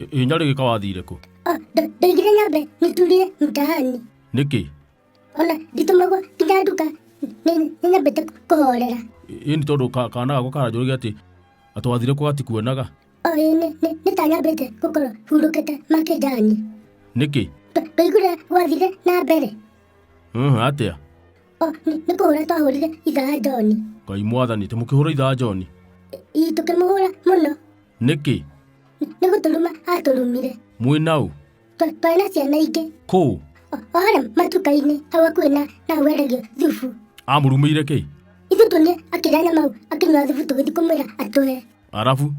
ä nyarä gä ka wathire kå Ah, nda- ndaigire nyambe nĩturire mtaani nä kä ona nditũmagwo nginya nduka nĩ- nĩnyambĩte kũhorera ä nä tondå ka- kana gakwa karanjå rä ge atä atå wathire kå gatikuonaga o ĩ nĩ- nĩ- nĩtanyambĩte gũkorwo hurũkĩte makĩnjani nä kä Ndũ- ndũiguire gwathire na mbere atä a O, nĩ nĩ kũhũra twahũrire ithaa Joni. ngai mwathani tä må kä hå ra ithaa joni Ii tũkĩmũhũra mũno. nä kä Nĩ gũtũruma atũrumire. mwä naå Twa- Twarĩ na ciana ingĩ. kå O o harĩa matuka-inĩ hau hakuhĩ na na hau endagio thubu. amå rumä ire kä Ithuĩ tuonire akĩrĩa nyama hau akĩnyua thubu tũgĩthiĩ kũmwĩra atũhe. arabu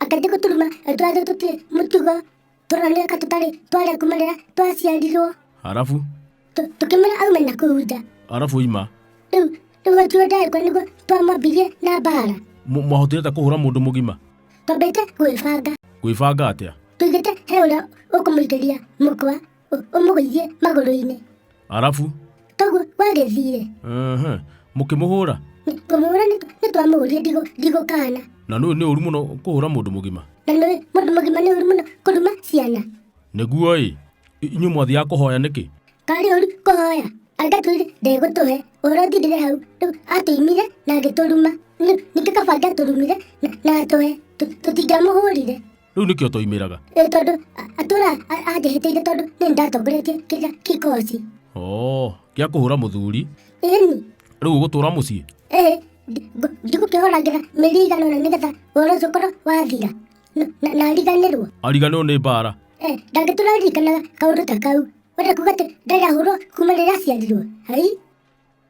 Akambia gũtũruma atwathe tũtirĩ mũtugo. tũrorania ka tũtarĩ twarĩa kuma rĩrĩa twaciarirwo arabu Tũ- tũkĩmwĩra aume na kũu nja arabu oima rĩu rĩu atuo ndagĩkwa nĩguo twamwambirie na mbaara Mũ- mwahotire ta kũhũra mũndũ mũgima twambĩte gwĩbanga gwĩbanga atĩa tũigĩte he ũrĩa ũkũmũigĩria mũkwa ũ- ũmũgũithie magũrũ-inĩ arabu toguo wagĩthire ehe, mũkĩmũhũra kũmũhũra nĩtwamũhũrire ndigũkana na nĩ nĩ ũru mũno kũhũra mũndũ mũgima na nĩ mũndũ mũgima nĩ ũru mũno kũruma ciana nĩguo ĩ inyuĩ mwathiaga kũhoya nĩkĩ karĩ ũru kũhoya angatwĩre ndegũtũhe ũhoro thirire hau rĩu atũimire na agĩtũruma Nĩ- ningĩ kaba angatũrumire na- na atũhe Tũ- tũtingĩamũhũrire rä u nä kä o twaimä raga Nĩ tondũ a- atũra a- anjĩhĩtĩire tondũ nĩ ndatongoretie kĩrĩa kĩkoci gä a kå hå ra må thuri ĩni rä u å gå tå ra må ciä ĩ ndigũkĩhũragĩra mĩri igana na nĩgetha ũhoro ũcio ũkorwo wathira Na- na- na ariganĩrwo ariganä rwo nä mbara Eh, ndangĩtũra ririkanaga kaũndũ ta kau wenda kuga atĩ ndarahũrwo kuma rĩrĩa aciarirwo hai